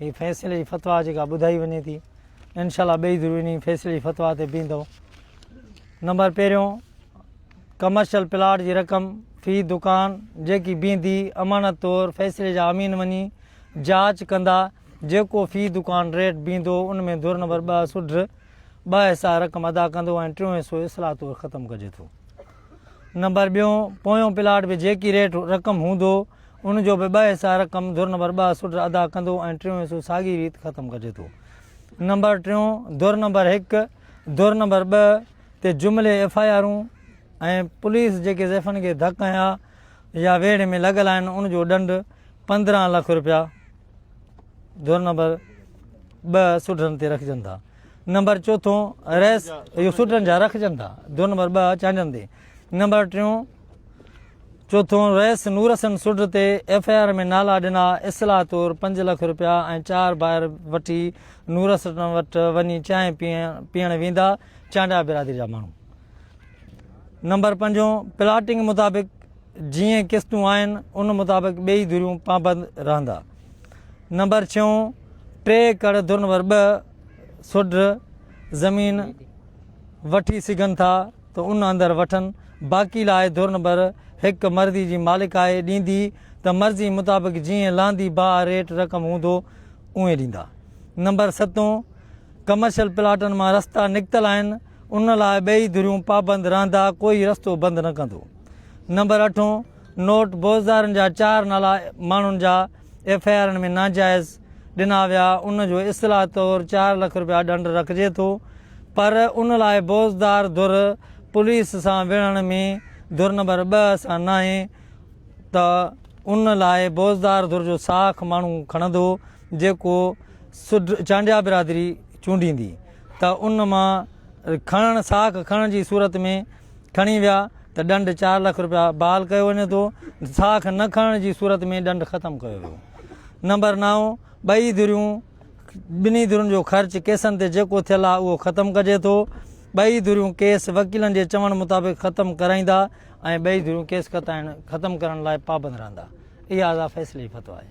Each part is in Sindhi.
هي فيصلي جي فتويٰ جيڪا ٻڌائي وڃي ٿي انشاء الله ٻئي ضرور انهي فيصلي جي فتويٰ تي بيهندو نمبر پهريون ڪمرشل پلاٽ جي رقم في دڪان جيڪي بيهندي امانت طور فيصلي جا امين وڃي جاچ ڪندا جيڪو في دڪان ريٽ بيهندو ان ۾ دور نمبر ٻه سوڍ ٻه حصا رقم ادا ڪندو ۽ ٽيون حصو اصلاح طور ختم ڪجي ٿو نمبر ٻيون پويون پلاٽ به جيڪي ريٽ رقم هوندو ان جو به ٻه حصا رقم ڌر نمبر ٻه سٽ ادا ڪندو ۽ ٽيون حصو ساڳي ريت ختم ڪجي ٿو نمبر ٽيون ڌر نمبر هڪ ڌر نمبر ٻه تي جملي ايف آء آرون ۽ پوليس جيڪي زيفن کي ڌڪ هنيا يا ويڙهي ۾ لڳل آهن ان جو ڏنڊ پندرهن لک روپيا ڌر نمبر ٻه سوڍن تي رکجن ٿا نمبر چوٿون رئيس اهو سوٽن جا رکجن ٿا دو نمبر ٻه چانجن تي نمبر ٽيون چوٿون رئيس نورسن سوٽ تي ايف آء آر ۾ نالا ڏنا اصلاح طور پنج لک روپيا ۽ چار بائر وٺي نورسن وٽ وڃي چانهه پيئڻ ويندا چانڊيا برادري جا ماڻهو نمبر پنجون پلاٽنگ مطابق جيئن قسطون آهن ان مطابق ٻئي ڌريون پابند رهندا. نمبر ڇهون ٽي ايڪڙ ڌر نمبر ٻه سوڍ زمين وٺي سگهن ٿا ته ان اندر وٺن باقي لاء ڌر نمبر هڪ مرضي جي مالڪ آهي ڏيندي ته مرضي مطابق جيئن لهندي باء ريٽ رقم هوندو اونئين ڏيندا. نمبر ستون ڪمرشل پلاٽن مان رستا نڪتل آهن ان لاء ٻئي ڌريون پابند رهندا ڪوئي رستو بند نه ڪندو. نمبر اٺون، نوٽ، بوزدارن جا چار نالا ماڻهن جا ايف آء آرن ۾ ناجائز ڏنا ويا، ان جو اصلاح طور چار لک رپيا ڏنڊ رکجي ٿو پر ان لاء بوزدار ڌر پوليس سان وڙهڻ ۾ ڌر نمبر ٻه سان ناهي ته ان لاء بوزدار ڌر جو ساک ماڻهو کڻندو جيڪو سڍ چانڊيا برادري چونڊيندي ته ان مان کڻڻ ساک کڻڻ جي صورت ۾ کڻي ويا ته ڏنڊ چار لک رپيا بحال ڪيو وڃي ٿو، ساک نه کڻڻ جي صورت ۾ ڏنڊ ختم ڪيو ويو. نمبر نو، ٻئي ڌريون، ٻنهي ڌرين جو خرچ ڪيسن تي جيڪو ٿيل آهي اهو ختم ڪجي ٿو، ٻئي ڌريون ڪيس وڪيلن جي چوڻ مطابق ختم ڪرائيندا ۽ ٻئي ڌريون ڪيس ختم ڪرڻ لاء پابند رهندا. اها ادا فيصلي جي فتويٰ آهي.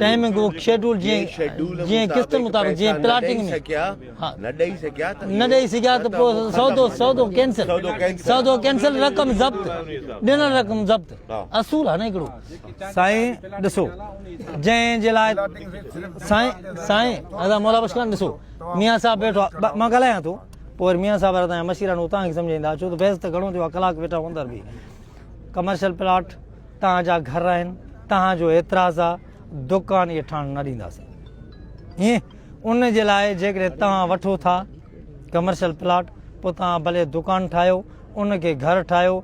ٽائيمنگ اوف شيڊول جيئن قسطن مطابق جيئن پلاٽنگ ۾ نه ڏئي سگهيا ته پوء سودو سودو ڪينسل سودو ڪينسل رقم ضبط ڏنل رقم ضبط اصول آهي نه هڪڙو سائين ڏسو جنهن جي لاء سائين سائين ادا مولا بخش خان ڏسو ميان صاحب ويٺو آهي مان ڳالهايان ٿو پوء وري ميان صاحب تان يا مشيران هو توهان کي سمجهائيندا ڇو ته بحث ته گهڻو ٿيو آهي ڪلاڪ ويٺا هو اندر به ڪمرشل پلاٽ توهان جا گهر آهن، توهان جو اعتراض آ، دڪان اهي ٺاهڻ نه ڏينداسين. هين، ان جي لاء جيڪڏهن توهان وٺو ٿا ڪمرشل پلاٽ، پوء توهان ڀلي دڪان ٺاهيو، ان کي گهر ٺاهيو،